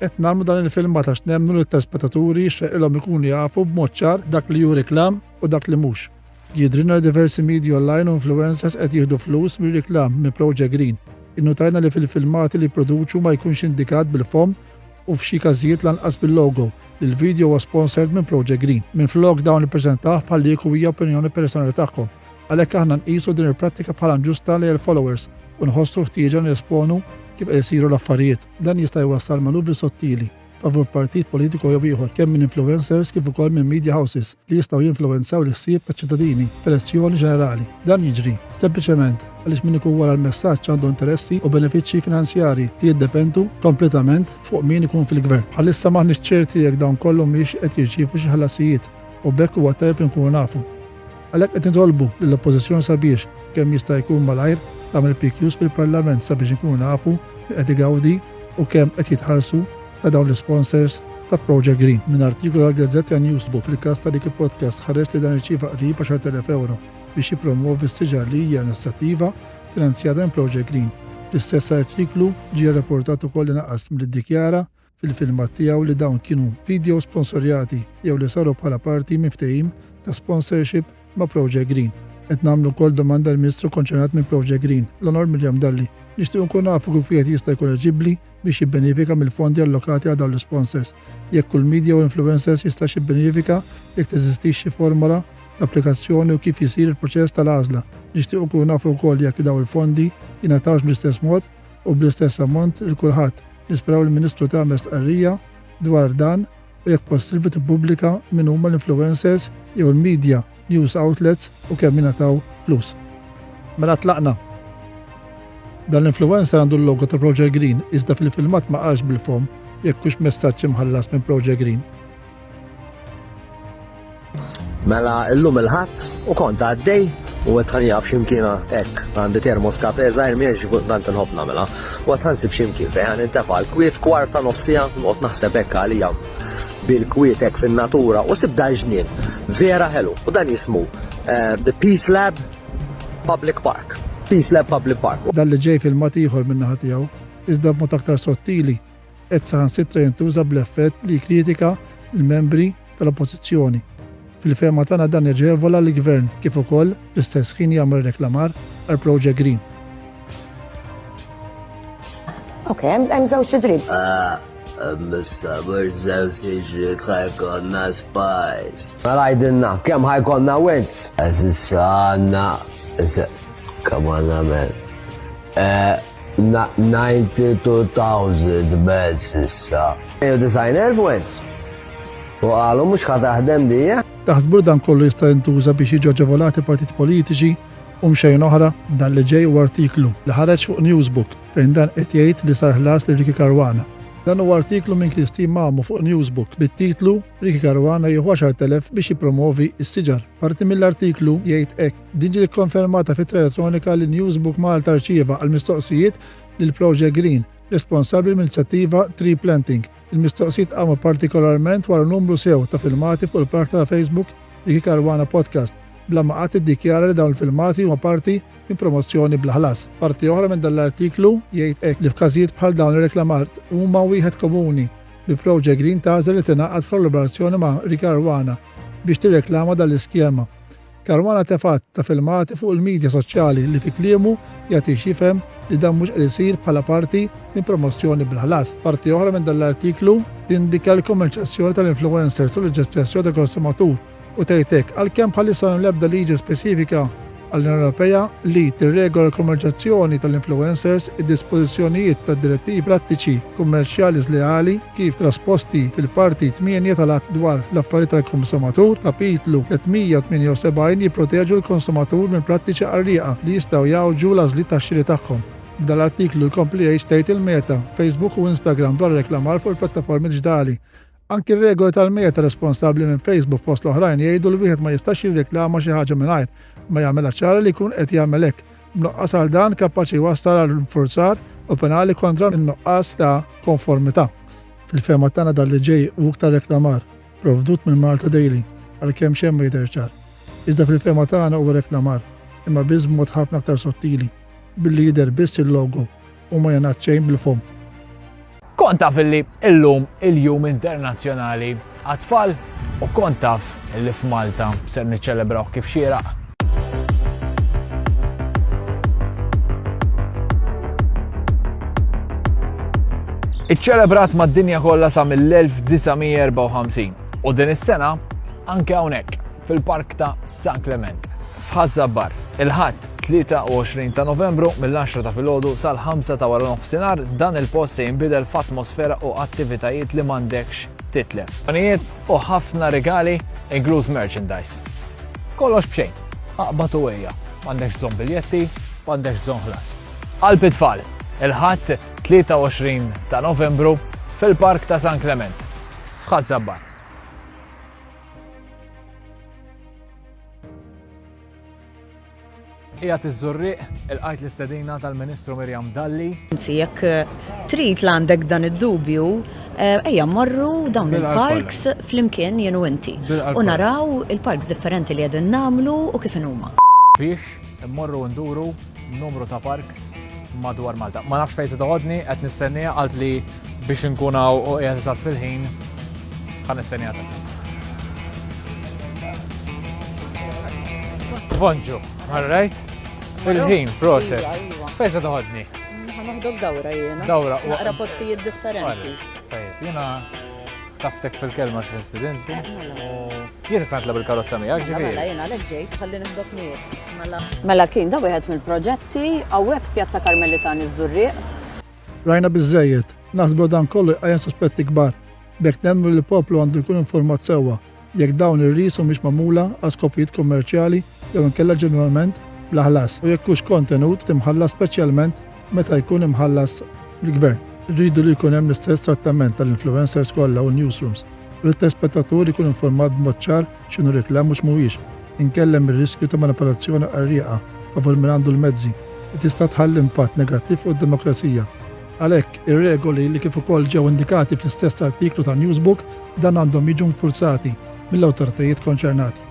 Qed nagħmlu dan il-filmat għax nemmnu li t-telspettaturi jixraqilhom ikunu jafu b'mod ċar dak li hu reklam u dak li mhux. Jidhrilna li diversi media online u influencers qed jieħdu flus mir-reklam minn Project Green. Innutajna li fil-filmati li jipproduċu ma jkunx indikat bil-fomm u f'xi każijiet lanqas bil-logo li l-video huwa sponsored minn Project Green. Minflok dawn ippreżentawh bħal li kieku hija opinjoni personali tagħhom. Għalhekk aħna nqisu din il-prattika bħala nġusta lejn il-followers u nħossu ħtieġa nesponu kif qed isiru l-affarijiet. Dan jista' jwassal manuvri sottili favur partit politiku jew ieħor kemm minn influencers kif ukoll minn media houses li jistgħu jinfluwenzaw l-ħsieb taċ-ċittadini f'elezzjoni ġenerali. Dan jiġri sempliċement għaliex min ikun wara l-messaġġ għandu interessi u benefiċċji finanzjarji li jiddependu kompletament fuq min ikun fil-gvern. Bħalissa maħniex ċerti jekk dawn kollhom mhix qed jirċievu xi ħlasijiet u bekk huwa tajb li nkunu nafu. Għalhekk qed nitolbu lill-Oppożizzjoni sabiex, kemm jista' jkun malajr, tagħmel PQs fil-Parlament sabiex inkunu nafu min qed igawdi u kemm qed jitħallsu ta' dawn l-isponsors ta' Project Green. Minn artikolu għall-Gazzetta Newsbook fil-każ ta' Liki Podcast ħareġ li dan irċieva qrib 10,000 ewro biex jippromwovi s-siġar li hija inizjattiva finanzjata minn Project Green. Fl-istess artiklu ġie rrapportat ukoll li naqas milli ddikjara fil-filmat tiegħu li dawn kienu vidjows sponsorjati jew li saru bħala parti minn ftehim ta' sponsorship ma' Project Green. Qed nagħmlu wkoll domanda l-Ministru konċernat minn Project Green, l-Onor Miriam Dalli. Nixtiequ nkunu nafu kif wieħed jista' jkun eliġibbli biex jibbenefika mill-fondi allokati għal dawn l-isponsors. Jekk kull media u influencers jistax jibbenefika, jekk teżistix xi formola ta' applikazzjoni u kif isir il-proċess tal-għażla. Nixtiequ nkunu nafu wkoll jekk dawn il-fondi jingħatawx bl-istess mod u bl-istess ammont lil kulħadd. Nisperaw li ministru tagħmel stqarrija dwar dan u jekk possibbli tippubblika min huma l-influencers jew il-media news outlets u kemm jingħataw flus. Mela tlaqna. Dan l-influencer għandu l-logo ta' Project Green iżda fil-filmat ma qarx bil-fom jekk hux messaġġ imħallas minn Project Green. Mela illum il-ħadd u kont għaddej u qed ħanjaf x'imkiena hekk għandi termos kafe żgħir miex tant inħobb nagħmilha. U qed ħansib x'imkien fejn nintefa' l-kwiet kwarta nofsija noqgħod naħseb hekk għalija bil-kwiet hekk fin-natura u sib dan ġnien vera ħelu u dan jismu eh, The Peace Lab Public Park. Peace Lab Public Park. Dan li ġej fil-mat ieħor minna ħatijaw, iżda b'mod aktar sottili qed saħansitra jintuża bl-effett li jikkritika l-membri tal-Oppożizzjoni. Fil-fehma tagħna dan jaġevola lill-Gvern kif ukoll fl-istess ħin jagħmel reklamar għal Project Green. Ok, hemm żewġ idrib. Mis-sabur żewġ iġrid ħajkonna spajs. Mela għidilna, kemm ħajkonna wins? Eżis għandna, kemm għandna men. 92,000 belt s'issa. 190,000 wens. U qalu mhux ħa taħdem dija. Taħsbu li dan kollu jista' jintuża biex jiġu aġevolati partiti politiċi u mxejn oħra? Dan li ġej huwa artiklu li ħareġ fuq Newsbook fejn dan qed jgħid li sar ħlas lil Ricky Caruana. Dan huwa artiklu minn Christine Mamu fuq Newsbook bit-titlu Ricky Caruana jieħu 10,000 biex jippromovi s-siġar. Parti mill-artiklu jgħid hekk. Din ġiet ikkonfermata f'ittra elettronika li Newsbook Malta rċieva għall-mistoqsijiet lil Project Green, responsabbli mill-inizjattiva Tree Planting. Il-mistoqsijiet qamu partikolarment wara numru sew ta' filmati fuq il-parta ta' Facebook Ricky Caruana Podcast, bla ma qatt iddikjara li dawn il-filmati huma parti minn promozzjoni bla ħlas. Parti oħra minn dan l-artiklu jgħid hekk li f'każijiet bħal dawn ir-reklamart huma wieħed komuni bi Project Green tagħżel li tingħaqad f'kollaborazzjoni ma' Ricky Caruana biex tirreklama dan l-iskema. Caruana tefgħet ta' filmati fuq il-midja soċjali li fi kliemu jagħtix jifhem li dan mhux qed isir bħala parti minn promozzjoni bla ħlas. Parti oħra minn dan l-artiklu tindika l-kummerċjazzjoni tal-influencers u l-ġestjazzjoni tal-konsumatur u tgħid hekk, għalkemm bħalissa m'hemm l-ebda liġi speċifika għall-Unjoni Ewropea li tirregola l-kummerċjazzjoni tal-influencers, id-dispożizzjonijiet tad-Direttivi Prattiċi Kummerċjali Żleali kif trasposti fil-Parti Tmienja tal-Att dwar l-Affarijiet tal-Konsumatur, Kapitlu 378, jipproteġu l-konsumatur minn prattiċi qarrieqa li jistgħu jgħawġu l-għażliet ta' xiri tagħhom. Dan l-artiklu jkompli jgħid x'tgħid il-Meta, Facebook u Instagram dwar ir-reklamar fuq il-pjattaformi diġitali. Anki r-regoli tal-Meta, responsabbli minn Facebook fost l-oħrajn, jgħidu li wieħed ma jistax jirreklama xi ħaġa mingħajr ma jagħmilha ċara li jkun qed jagħmel hekk. B'nuqqas għal dan kapaċi jwassal għal infurzar u penali kontra n-nuqqas ta' konformità. Fil-fehma tagħna dan li ġej u iktar reklamar provdut minn Malta Daily għalkemm xejn ma jidher ċar. Iżda fil-fehma tagħna huwa reklamar imma biss b'mod ħafna aktar sottili billi jidher biss il-logo U ma jingħad xejn bil-fomm. Kont taf illi illum il-Jum Internazzjonali għat-tfal u kont taf illi f'Malta ser niċċelebraw kif xieraq. Iċċelebrat mad-dinja kollha sa mill-1954 u din is-sena anke hawnhekk fil-Park ta' San Klement, f'Ħaż-Żabbar, il-Ħadd, 23 ta' Novembru, mill-10 ta' filgħodu sal-5 ta' wara nofsinhar, dan il-post se jinbidel f'atmosfera u attivitajiet li m'għandekx titlef. Pjanijiet u ħafna rigali, inkluż merchandise. Kollox b'xejn, aqbad u ejja, m'għandekx bżonn biljetti, m'għandekx bżonn ħlas. Qalb it-Tfal, il-Ħadd, 23 ta' Novembru, fil-Park ta' San Klement, f'Ħaż-Żabbar. Qiegħed iż-Żurrieq ilqajt l-istedina tal-Ministru Mirjam Dalli. Anzi, jekk eh, trid l-għandek dan id-dubju, eh, ejja morru dawn il-parks flimkien jenu inti. U naraw il-parks differenti li qegħdin namlu u kif huma. Biex Immorru u nduru numru ta' parks madwar Malta. Ma nafx fejn se toħodni, qed nistennija għalt li biex inkun hawn u qiegħed eżatt fil-ħin ħa nistennija tasal. Bonġu, all right? Fil-ħin, proset. Iva, iva. Fejn se toħodni? Ħa naħdok dawra jiena. Dawra. Naqra postijiet differenti. Tajjeb, jiena Taftek fil-kelma xi student. Eh, mela. Jien qed natlab il-karozza miegħek ġifieri. Mela jien għalhekk ġejt ħalli nifdok miegħek. Mela. mela kien da wieħed mill-proġetti hawnhekk Pjazza Karmelitan iż-Żurrieq. Rajna biżejjed, naħsbu dan kollu jqajjem suspetti kbar. Bek nemmu li l-poplu għandu jkun informat sewwa jekk dawn ir-ris humiex magħmula għal skopijiet kummerċjali jew inkella ġeneralment bla ħlas u jekk hux kontenut imħallas speċjalment meta jkun imħallas mill-gvern. Irridu li jkun hemm l-istess trattament tal-influencers kollha u newsrooms u li t-telespettatur ikun informat b'mod ċar x'inhu reklam u x'mhuwiex, inkella hemm ir-riskju ta' manipolazzjoni qarrieqa favur min għandu l-mezzi li tista' tħalli impatt negattiv fuq id-demokrazija. Għalhekk, ir-regoli li kif ukoll ġew indikati fl-istess artiklu ta' Newsbook dan għandhom jiġu nfurzati mill-awtoritajiet konċernati.